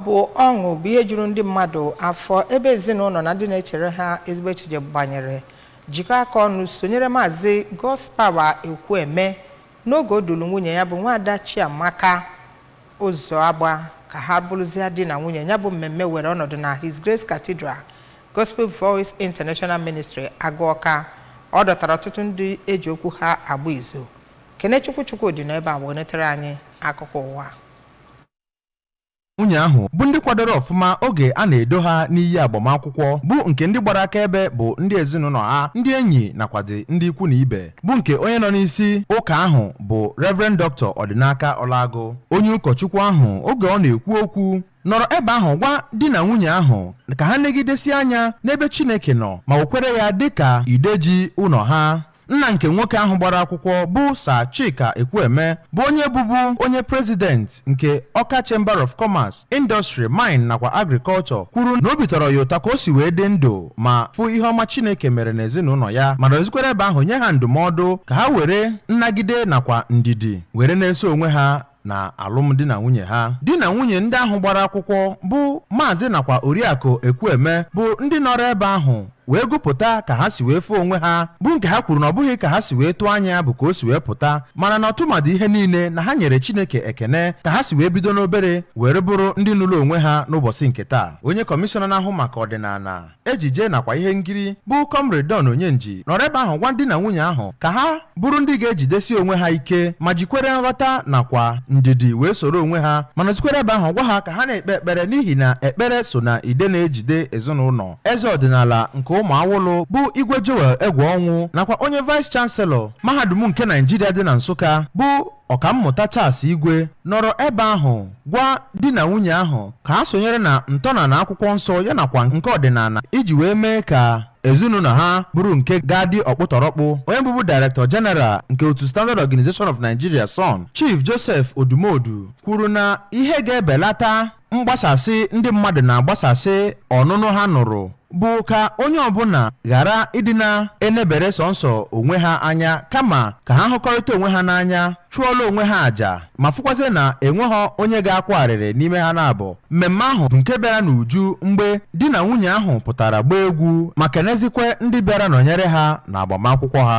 Ọ bụ ọṅụ bụ ihe juru ndị mmadụ afọ ebe ezinụlọ na ndị na-echere ha ezigbo echiche gbanyere jikọọ aka ọnụ sonyere Maazị Godspower Ekwueme n'oge o dulu nwunye ya bụ Nwaada Chiamaka Ụzọagba ka ha bụrụzịa di na nwunye. Ya bụ mmemme were ọnọdụ na His Grace Cathedral Gospel Voice International Ministry Agụọka. Ọ dọtara ọtụtụ ndị eji okwu ha agba izu. Kenechukwu Chukwudị nọ ebe a wenetere anyị akụkọ ụwa. nwunye ahụ bụ ndị kwadoro ọfụma oge a na-edo ha n'iyi agbamakwụkwọ bụ nke ndị gbara akaebe bụ ndị ezinụlọ ha ndị enyi nakwazi ndị ikwu na ibe bụ nke onye nọ n'isi ụka ahụ bụ Reverend Dr. Ọdịnaka Ọlagụ onye ụkọchukwu ahụ oge ọ na-ekwu okwu nọrọ ebe ahụ gwa di na nwunye ahụ ka ha negidesi anya n'ebe Chineke nọ ma wekwere ya dịka ide ji ụlọ ha nna nke nwoke ahụ gbara akwụkwọ bụ Sir Chika Ekwueme bụ onye bụbu onye prezident nke Ọka Chamber of Commerce, Industry, Mine nakwa Agriculture kwuru na obi tọrọ ya ụtọ ka o si wee dị ndụ ma fụ ihe ọma Chineke mere n'ezinụlọ ya ma nọzikwere ebe ahụ nye ha ndụmọdụ ka ha were nnagide nakwa ndidi were na-eso onwe ha na alụmdi na nwunye ha di na nwunye ndị ahụ gbara akwụkwọ bụ maazị nakwa oriakụ ekwueme bụ ndị nọrọ ebe ahụ wee gụpụta ka ha si wee fụ onwe ha bụ nke ha kwuru na ọ bụghị ka ha si wee tụọ anya ya bụ ka o si wee pụta mana na ọtụmadụ ihe niile na ha nyere chineke ekene ka ha si wee bido n'obere were bụrụ ndị nụrụ onwe ha n'ụbọchị nke taa onye kọmishọna na-ahụ maka ọdịnala ejije nakwa ihe nkiri bụ Comrade Don Onyenji nọrọ ebe ahụ gwa di na nwunye ahụ ka ha bụrụ ndị ga-ejidesi onwe ha ike ma jikwere nghọta nakwa ndidi wee soro onwe ha ma nọzikwere ebe ahụ gwa ha ka ha na-ekpe ekpere n'ihi na ekpere so na ide na-ejide ezinụlọ eze ọdịnala nke Ụmụawụlụ bụ Igwe Joel Egwuọnwụ nakwa onye vice chancellor mahadum nke Naijiria dị na Nsụka bụ Ọkammụta Charles Igwe nọrọ ebe ahụ gwa di na nwunye ahụ ka ha sonyere na ntọnala akwụkwọ nsọ ya nakwa nke ọdịnala iji wee mee ka ezinụlọ ha bụrụ nke ga-adị ọkpụtọrọkpụ onye bụbu Director General nke otu Standard Organization of Nigeria SON Chief Joseph Odumodu kwuru na ihe ga-ebelata mgbasasị ndị mmadụ na-agbasasị ọnụnụ ha nụrụ bụ ka onye ọbụla ghara ịdị na-enebere sọnsọ onwe ha anya kama ka ha hụkọrịta onwe ha n'anya chụọla onwe ha àjà ma fụkwazi na enweghị onye ga-akwa arịrị n'ime ha naabọ mmemme ahụ bụ nke bịara n'uju mgbe di na nwunye ahụ pụtara gbaa egwu ma kenezikwe ndị bịara nọnyere ha na agbamakwụkwọ ha